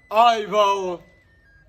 ọibe ọnwụ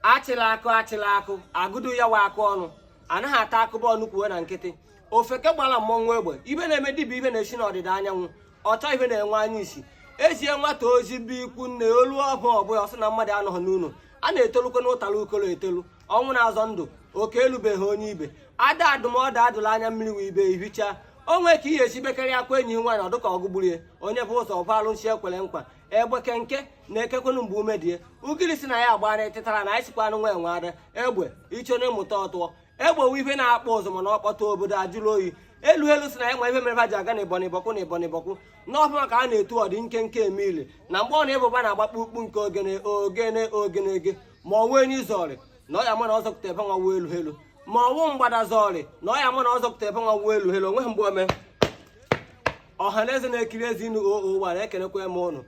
achịla akụ achịla akụ agụdu ya wa akụ ọnụ anaghị ata akụba ọnụ kwuo na nkịtị ofeke gbara mmọnwụ egbe ihe na-eme dibịa ihe na-esi n'ọdịda anyanwụ ọchọ ihe na-enwe anya isi ezie nwata ozi be ikwu nne olu ọbụ ọbụla ọ sị na mmadụ anọghị n'ụlọ a na-etolukwa n'ụtara ukolo etolu ọnwụ na-azọ ndụ oke elubeghị onye ibe ada adụ m ọdụ adụla anya mmiri wee ibe ihicha onwe ka ihe esi bekarị akwa enyi nwaanyị ọdụka ọgụ gburie onye bu ụzọ ọ gwa alụsị ekwere nkwa egbe kenke na-ekekwenu mgbe ume die ogiri sị na ya agba na etịtara na anyị sikwa anụ nwa enwe ada egbe icho na ịmụta ọtụọ egbe wu ife na-akpọ ụzọ mana ọ kpọtụ obodo ajụrụ oyi elu elu sị na ya ma ife mere ha ji aga na ịbọ na ịbọkwụ na ịbọ na ịbọkwụ n'ọfụ maka a na-etu ọdị nkenke emili na mgbe ọ na-ebụba na-agbakpụ ukpu nke ogene ogene ogenege ma ọ nwa enyi zọrị na ọ ya mụ na ọ zọpụta ebe nwa wuo elu elu ma ọ nwa mgbada zọrị na ọ ya mụ na ọ zọpụta ebe nwa wuo elu elu onweghị mgbe o me ọha na eze na-ekiri ezi inu oo gbara ekelekwa m ụnụ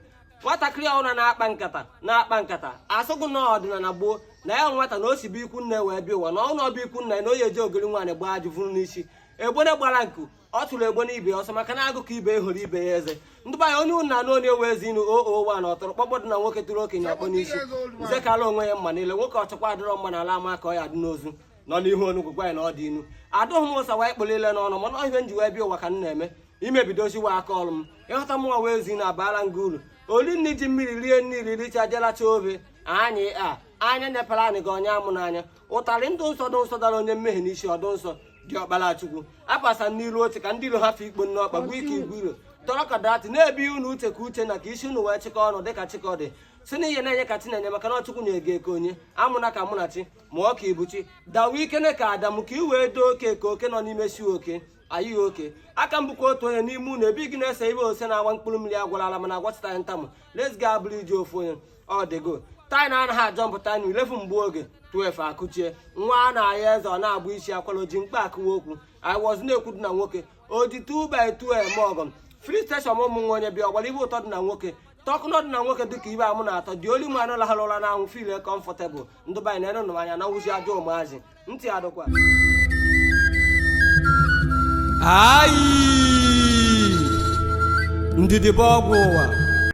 nwatakịrị ọhụrụ na-akpa nkata na-akpa nkata asụsụ na ọdịnala gboo na ya nwata na o si be ikwu nne wee bịa ụwa na ọ nọ be ikwu nna na onye eji ogiri nwaanyị gbaa ajụ vụrụ n'isi egbene gbara nku ọ tụrụ egbene ibe ọsọ maka na agụkọ ibe ya hụrụ ibe ya eze ndị banye onye ụnụ na-anụ onye ewe ezi inu oo wa na ọtụrụkpọkpọ dị na nwoke tụrụ okenye ọkpọ n'isi nze kara onwe ya mma niile nwoke ọchọkwa adịrọ mma na ala ama ka ọ ya dị n'ozu nọ n'ihu onugwu gwa ya na ọ dị inu adụghị m ụsa wee kpụrụ ile n'ọnụ mana ihe nji wee bịa ụwa ka m na-eme imebidoziwa aka ọrụ m ịghọta m nwa wee zi na abaala nga uru olu nri ji mmiri rie nri riri richa jelacha ofe anyị a anya nyepere anyị gị onye amụ n'anya ụtarị ndụ nsọ dị nsọ dara onye mmehie n'isi ọdụ nsọ dị ọkpara chukwu apasa n'iru oche ka ndị iro ha fe ikpo nne ọkpa gbuo ike igwe iro tọrọ ka dati na-ebi unu uche ka uchenna ka isi unu wee chịkọ ọnụ dịka chikọdị sị na ihe na-enye ka chi na-enye maka na ọ chukwu na-eke eke onye amụna ka munachi mụọ ka ibuchi dawa ikene ka adamu ka i wee doo oke ka oke nọ n'ime si oke ayịghị oke aka m bụkwa otu onye n'ime unu ebe gị na-ese ibe ose na-agba mkpụrụ mmiri agwara ala mana agwachitaghị ntamụ let's go abụrụ iji ofu onye ọ dịgo taị na anaghị ajọ mpụta na ilefu mgbe oge 12 akụchie nwa a na-ahịa eze ọ na-abụ isi akwara oji mkpa akụwa okwu i was na-ekwu dị na nwoke oji 2 by 2 eme ọgọm free station ụmụ nwa onye bịa ọgbara ibe ụtọ dị na nwoke tọkụnọ dị na nwoke dịka ihe amụ na-atọ dị oli mụ anụ lahara ụra n'anwụ feel comfortable ndị be anyị na-enenụ anya na nwụzi ajọ ụmụazị ntị adịkwa ayi ndidi bụ ọgwụ ụwa